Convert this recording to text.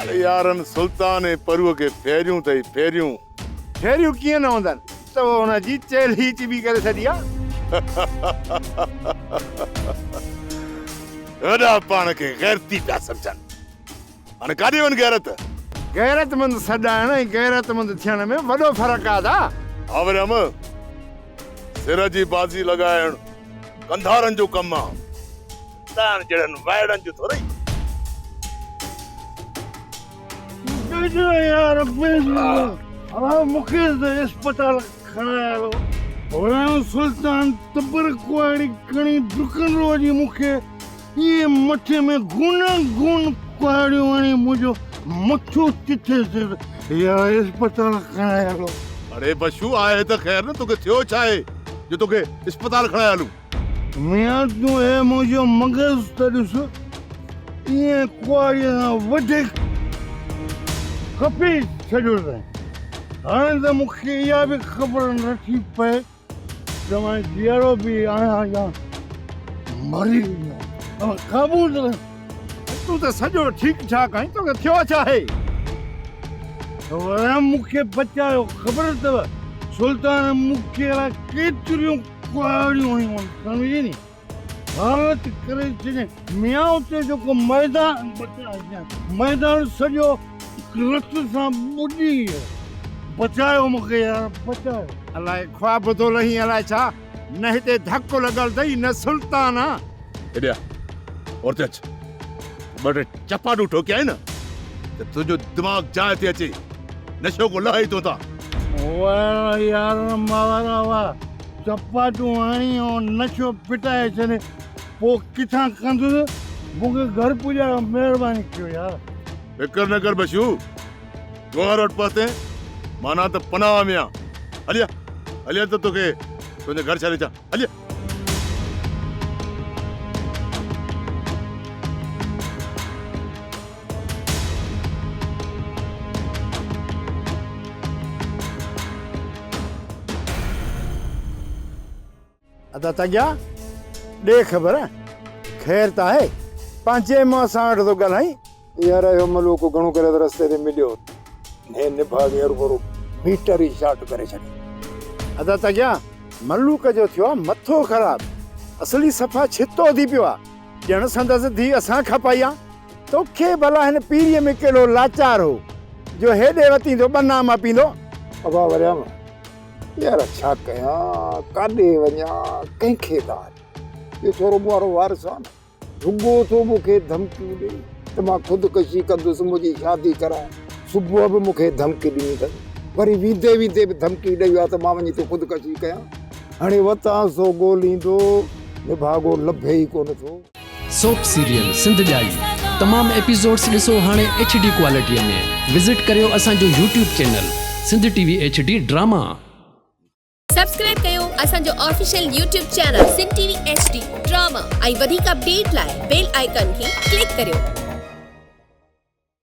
ڪالهه يارن سلطان ۽ پروء کي ڦيريون اٿئي ڦيريون. ڦيريون ڪيئن نه هوندن، تو هن جي چيلهه ئي چٻي ڪري ڇڏي آ. هيڏا پاڻ کي غيرتي پيا سمجهن. هاڻي ڪاڏي وين غيرت؟ غيرتمند سڏائڻ ۽ غيرتمند ٿيڻ ۾ وڏو فرق آ دا. ها وري هم سر جي بازي لڳائڻ ڪنڌارن جو ڪم آ. تان جهڙن وائڙن جو ٿورئي. ڏجو يار بيس ها مونکي ته اسپتال کڻائي هلو. هورانهن سلطان تبر ڪهاڙي کڻي ڊڪن روء جي مونکي. هي مٿي ۾ گون گون ڪهاڙيون هڻي منهنجو مٿو ڪٿي سر يا اسپتال کڻائي هلو. اڙي بشو آء ته خير نه توکي ٿيو ڇا آهي جو توکي اسپتال کڻائي هلون. ميان تون هي منهنجو مغز ته ڏس ائين ڪهاڙي سان وڌيڪ کپي ڇڏيو اٿئين. هاڻي ته مون کي اها به خبر نٿي پئي توهان جيئرو به آهيان يا مري ويو قبول تون ته سڄو ٺيڪ ٺاڪ آهين توکي ٿيو ڇا آهي توهان مون کي بچايو خبر اٿو سلطان مون کي ڪيتريون ڪهاڙيون هيون سمجهي ني ڀارت ڪري ڇڏي ميان اتي جيڪو ميدان ميدان سڄو رت سان ٻڏي ويو بچايو مونکي يار بچايو الاء خواب ٿو رهين الاء ڇا نه هتي ڌڪ لڳل اٿئي نه سلطان آ ايڏي آ اورتي اچ ٻه ٽي چپاٽون ٺوڪيائين نه ته تنهنجو دماغ جاء تي اچي نشو ڪو لهي تو تان واهه يار ماورا واهه چپاٽون هڻي ۽ نشو پٽائي ڇڏ پوء ڪٿان ڪندس مون کي گهر پڄايو مهرباني ڪيو يار. فڪر نه ڪر بشو گوهر وٽ پهتين معنيٰ ته پناهه ۾ آن هليا هليا ته توکي تنهنجي گهر ڇڏي اچان هليا. ادا تنجا ڏي خبر خير ته آهي پنهنجي مون سان وٽ ٿو ڳالهائين يار اهو ملوڪ گهڻو ڪري ته رستي تي مليو هي نڀاڳي هر ڀرو ميٽر ئي شارٽ ڪري ڇڏي ادا تنجا ملوڪ جو ٿيو آ مٿو خراب اصلي صفا ڇتو ٿي پيو آ ڄڻ سندس ڌي اسان کپائي آ توکي ڀلا هن پيريء ۾ ڪهڙو لاچار هو، جو هيڏي وتين ٿو ٻه ناما پيندو؟ ابا وريام، يار ڇا ڪيان، ڪاڏي وڃان، ڪنهن کي ڏانهن؟ اهو ڇورو مون وارو وارث آهي نه، رڳو ٿو مون کي ڌمڪيون ڏئي ته مان خودڪشي ڪندس، منهنجي شادي ڪراء. صبح به مون کي ڌمڪي ڏني اٿس، وري ويندي ويندي به ڌمڪي ڏئي ويو آهي ته مان وڃي ٿو خودڪشي ڪيان. هاڻي وتان سو ڳوليندو، نڀاڳو لڀي ئي ڪونه ٿو. سوپ سيريل سنڌ ڄائي تمام ايپيسوڊس ڏسو هاڻي ايڇ ڊي ڪوالٽيء ۾ وزٽ ڪريو اسان جو YouTube channel Sindh T V H D drama. Subscribe ڪيو اسان جو official YouTube channel Sindh T V H D drama ۽ وڌيڪ اپڊيٽ لاء بيل آئيڪان کي ڪلڪ ڪريو.